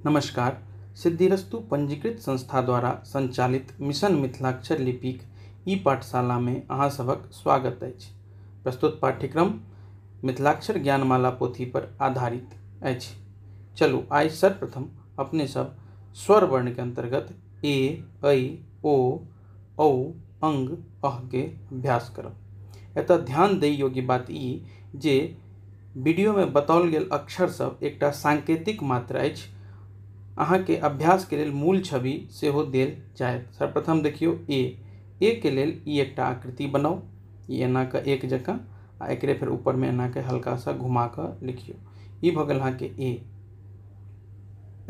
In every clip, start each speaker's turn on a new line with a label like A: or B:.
A: नमस्कार सिद्धिरस्तु पंजीकृत संस्था द्वारा संचालित मिशन मिथिलाक्षर लिपिक ई पाठशाला में अहाँ सबक स्वागत अछि प्रस्तुत पाठ्यक्रम मिथिलाक्षर ज्ञानमाला पोथी पर आधारित अछि चलू आइ सर्वप्रथम अपने सब स्वर वर्ण के अंतर्गत ए ऐ ओ ओ अङ्ग अहके अभ्यास करब। एतऽ ध्यान दै योग्य बात ई जे वीडियोमे बताओल गेल अक्षर सब एकटा सांकेतिक मात्र अछि। अहाँके अभ्यासके लेल मूल छवि सेहो देल जायत। सर्वप्रथम देखियौ ए। ए के लेल ई एकटा आकृति बनाउ। ई एना कऽ एक जकाँ आ एकरे फेर उपरमे एना कऽ हल्का सा घुमा कऽ लिखियौ। ई भऽ गेल अहाँके ए।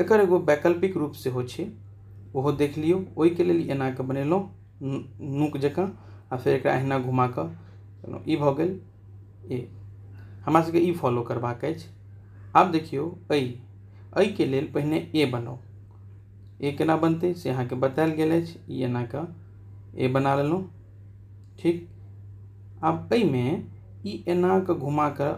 A: एकर एगो वैकल्पिक रूप सेहो छै ओहो देख लियौ ओहिके लेल एना कऽ बनेलहुँ नोक जकाँ आ फेर एकरा अहिना घुमा कऽ केलहुँ ई भऽ गेल ए हमरा सभकेँ ई फॉलो करबाक अछि आब देखियौ ऐ एहिके लेल पहिने ए बनाउ ए केना बनतै से अहाँकेँ बतायल गेल अछि ई एना कऽ ए बना लेलहुँ ठीक आब एहिमे ई एना कऽ घुमा कऽ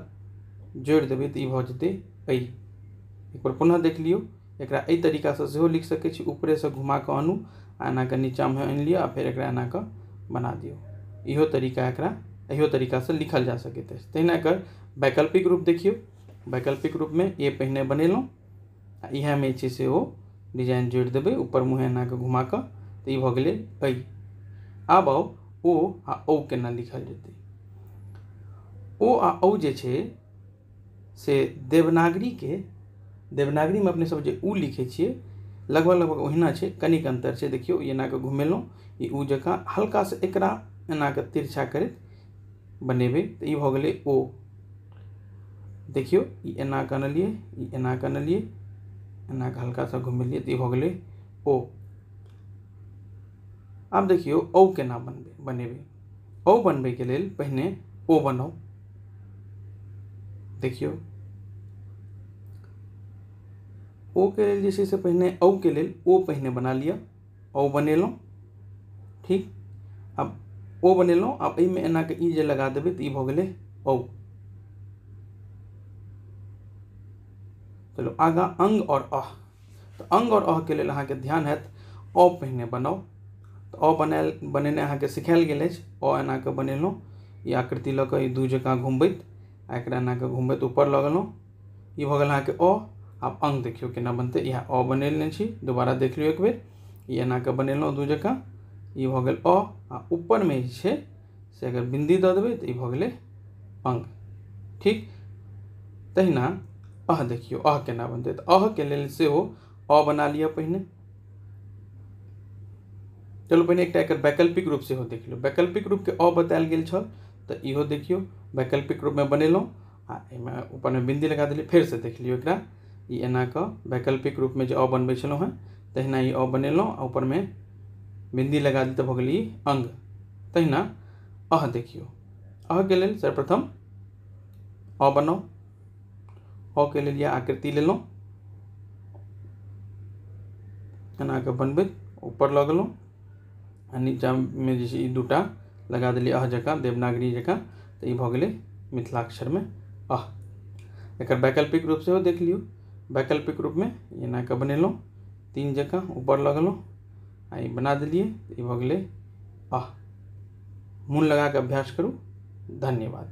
A: जोड़ि देबै तऽ ई भऽ जेतै अइ एक बेर पुनः देख लियौ एकरा एहि तरीकासँ सेहो लिख सकै छी ऊपरेसँ घुमा कऽ आनू आ एना कऽ नीचाँमे आनि लिअ आ फेर एकरा एना कऽ बना दियौ इहो तरीका एकरा एहियो तरीकासँ लिखल जा सकैत अछि तहिना एकर वैकल्पिक रूप देखियौ वैकल्पिक रूपमे ए पहिने बनेलहुँ आ इएहमे जे छै से ओ डिजाइन जोड़ि देबै ऊपर मुँहेँ एना कऽ घुमा कऽ तऽ ई भऽ गेलै अइ आब आउ ओ आ औ केना लिखल जेतै ओ आ औ जे छै से देवनागरीके देवनागरीमे अपनेसभ जे ऊ लिखै छियै लगभग लगभग ओहिना छै कनिक अन्तर छै देखियौ ई एना कऽ घुमेलहुँ ई ऊ जकाँ हल्का सा एकरा एना कऽ तिरछा करैत बनेबै तऽ ई भऽ गेलै ओ देखियौ ई एना कऽ अनलियै ई एना कऽ अनलियै एना कऽ हल्का सा घुमेलियै तऽ ई भऽ गेलै ओ आब देखियौ औ केना बनबै बनेबै ओ बनबैके लेल पहिने ओ बनाउ देखियौ ओ के लेल जे छै से पहिने औ के लेल ओ पहिने बना लिअ औ बनेलहुँ ठीक आब ओ बनेलहुँ आब एहिमे एनाके ई जे लगा देबै तऽ ई भऽ गेलै औ चलो आगा अंग और अह तऽ अङ्ग आओर अहके लेल अहाँके ध्यान हैत अ पहिने बनाउ तऽ अ बनायल बनेनाइ अहाँके सिखायल गेल अछि अ एना कऽ बनेलहुँ ई आकृति लऽ कऽ ई दू जकाँ घुमबैत आ एकरा एना कऽ घुमबैत ऊपर लऽ गेलहुँ ई भऽ गेल अहाँके अ आब अङ्ग देखियौ केना बनतै इएह अ बनेने छी दोबारा देख लियौ एक बेर ई एना कऽ बनेलहुँ दू जकाँ ई भऽ गेल अ आ ऊपरमे जे छै से अगर बिन्दी दऽ देबै तऽ ई भऽ गेलै अङ्ग ठीक तहिना अह देखियौ अह केना बनतै तऽ अहके लेल सेहो अ बना लिअ पहिने चलू पहिने एकटा एकर वैकल्पिक रूप सेहो देख लियौ वैकल्पिक रूपके अ बतायल गेल छल तऽ इहो देखियौ वैकल्पिक रूपमे बनेलहुँ आ एहिमे ऊपरमे बिन्दी लगा देलियै फेरसँ देख लियौ एकरा ई एना कऽ वैकल्पिक रूपमे जे 'अ' बनबै छलहुँ हेँ तहिना ई 'अ' बनेलहुँ आ ऊपरमे बिन्दी लगा देलियै तऽ भऽ गेल ई अङ्ग तहिना 'अ' देखियौ 'अ' के लेल सर्वप्रथम 'अ' बनाउ 'अ' के लेल इएह आकृति लेलहुँ एना कऽ बनबैत ऊपर लऽ गेलहुँ आ नीचाँमे जे छै ई दू टा लगा देलियै अह जकाँ देवनागरी जकाँ तऽ ई भऽ गेलै मिथिलाक्षरमे अह एकर वैकल्पिक रूप सेहो देख लियौ वैकल्पिक रूपमे एना कऽ बनेलहुँ तीन जकाँ ऊपर लऽ गेलहुँ आ ई बना देलियै ई भऽ गेलै अह मोन लगा कऽ अभ्यास करू धन्यवाद